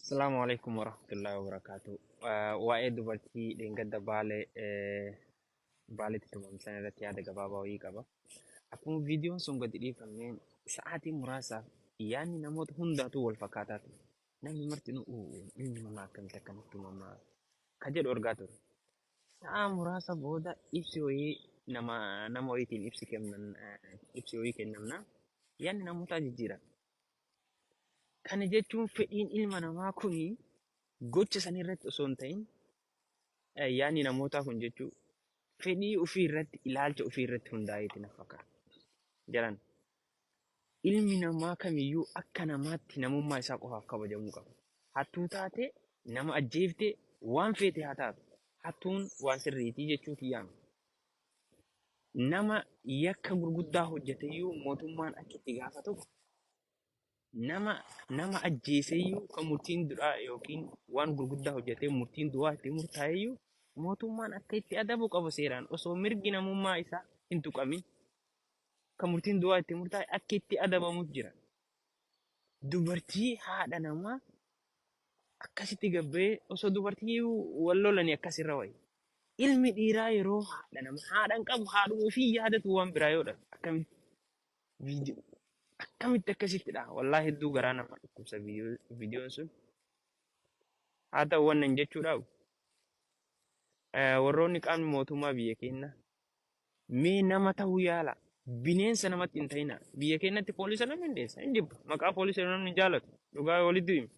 Assalamu alaikum warahmatullahi wabarakatuh. Uh, waa'ee dubartii dheengadda baale eh, baaletti tumamsan irratti yaada gabaabaa wayii qaba. Akkuma viidiyoon sun gadi dhiifameen sa'aatii muraasaaf yaadni namoota hundaatuu wal fakkaataa ture. Namni marti nu inni mana akkamitti akkanatti tumamaa ka jedhu argaa ture. Sa'aa muraasa booda ibsi wayii nama nama wayiitiin ibsi kennan eh, ibsi wayii kennamna yaadni namootaa jijjiirame. Kana jechuun fedhiin ilma namaa kun gocha san irratti osoo hin ta'in eh, yaadni namootaa kun jechuu fedhii ofii irratti ilaalcha ofii irratti hundaa'eeti na fakkaata. Jalan ilmi namaa kamiyyuu akka namaatti namummaa isaa qofaaf kabajamuu qaba. Hattuu taate nama ajjeefte waan feete haa taatu. Hattuun waan sirriitii jechuu kiyyaama. nama yakka gurguddaa hojjeteyyuu mootummaan akka itti gaafatuuf nama nama ajjeeseyyuu kan murtiin du'aa yookiin waan gurguddaa hojjetee murtiin du'aa itti murtaa'eyyuu mootummaan akka itti adabu qabu seeraan osoo mirgi namummaa isaa hin tuqamin kan murtiin du'aa itti murtaa'e akka itti adabamuuf jira. Dubartii haadha namaa akkasitti gabbee osoo dubartii wal lolanii akkas irra wayya. Ilmi dhiiraa yeroo haadha nama haadha hin qabu haadhuma ofii hin yaadatu waan biraa yoo dhabe akkamitti viidiyoo akkamitti akkasitti dha wallaahi hedduu garaa nama dhukkubsa viidiyoo- viidiyoon sun haa ta'u waan nan jechuu dhabu eh, warroonni qaamni mootummaa biyya keenya Mee nama ta'uu yaalaa. Bineensa namatti hin ta'inaa. Biyya keenyatti poolisa namni hin dheessa, hin jibba. Maqaa poolisa jedhu namni hin jaalatu. Dhugaa yoo walitti hime.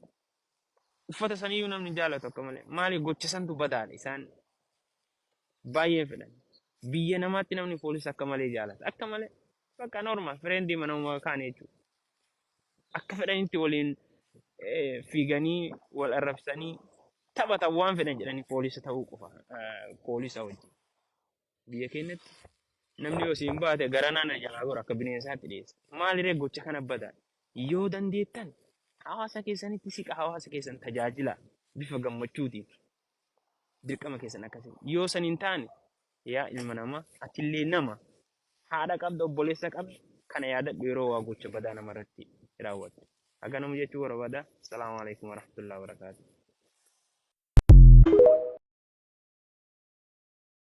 Uffata saniyyuu namni hin jaalatu akka malee. Maali gocha santu badaadha isaan baay'ee fedhan. Biyya namaatti namni poolisa akka malee jaalata. Akka malee. Bakka normal fireendi manuma kaanii jechuudha. Akka fedhanitti waliin eh, fiiganii wal arrabsanii taphatan waan fedhan jedhanii poolisa ta'uu qofa. eh, Poolisa wajjin. Biyya keenyatti namni yoo siin baate gara naana jalaa gora akka bineensaatti dhiyeessa. Maaliree gocha kana badaa? Yoo dandeettan hawaasa keessanitti siqa hawaasa keessan tajaajila bifa gammachuutiin dirqama keessan akkasii. Yoo san hin taane yaa ilma namaa atillee nama haadha qabda obboleessa qabda kana yaadadhu yeroo waa gocha badaa namarratti raawwattu. Akka nama jechuu barbaada. Salaamu alaikum warahmatullahi wabarakatuh.